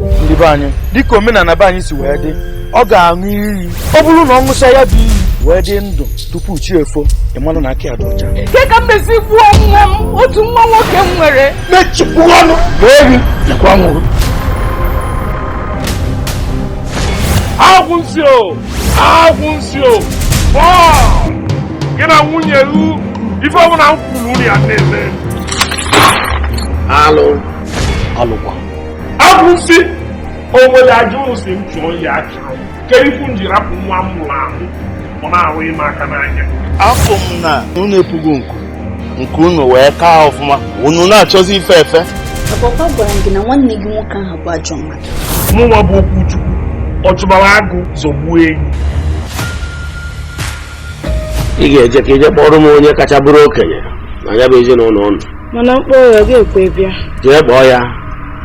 ndị be anyị dịka omenala be anyị si wee dị ọ ga-aṅụ iyi ọ bụrụ na ọ ṅụcha ya bụ iyi wee dị ndụ tupu chi efo ị malụ na aka ya dị ọcha Nke ka m mesi gbuo nwa m otu nwa nwoke m nwere mechipụ ọnụ ehi nakwa nwụrụ agwụ nsị o agwụ nsị o bọọ gị na nwunye gị ife ọbụla m kwuru unu ya na-eme alụ alụkwa agwụ nsị o nwere aja ụnụ sị m chụọ ya achụrụ ke ife m ji rapụ nwa m mụrụ amụ ọ na-ahụ ime aka n'anya afụ m na unu epugo nku nke unu wee kaa ọfụma unu na-achọzi ife efe Agwara m gị na nwanne gị nwoke ahụ bụ ajọ mmadụ mụnwa bụ okwu chukwu ọ chụbara agụ zọgbuo enyi ị ga-eje ka ị jee kpọrọ m onye kacha bụrụ okenye na ya bụ ezinụlọ ụnụ mana m kpọọ ya ọ ga-ekwe bịa jee kpọọ ya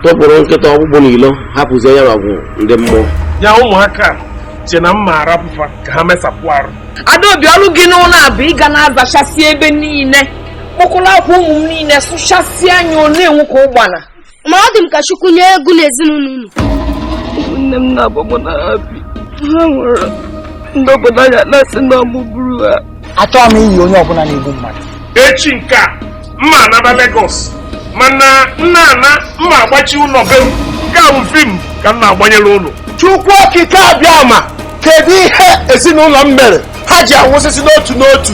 tụpụrụ nkịta ọkpụkpụ n'ilo hapụzie ya ọgụ ndị mmụọ ya ụmụaka che na m ma arapụ fa ka ha mesapụ arụ adaobi ọrụ gị n'ụlọ a bụ ị ga na-azachasị ebe niile kpọkọrọ akwa ụmụ m niile sụchasịa anya ọ na-enwu ka ụgbana ma ọ dị m ka chukwu nye egwu na ezinụlọ unu ụmụnne m na-abụ mụ na ha bi ha nwụrụ ndị obodo anyị na-asị na ọ mụ gburu ha achọghị m iyi onye ọbụla na-egbu mmadụ echi nke a m ma anaba Lagos mana m na-ana m ma agbachi ụlọ be m nke a bụ fim ka m na-agbanyere ụlọ chukwu okike abịama kedu ihe ezinụlọ m mere ha ji anwụsịsị n'otu n'otu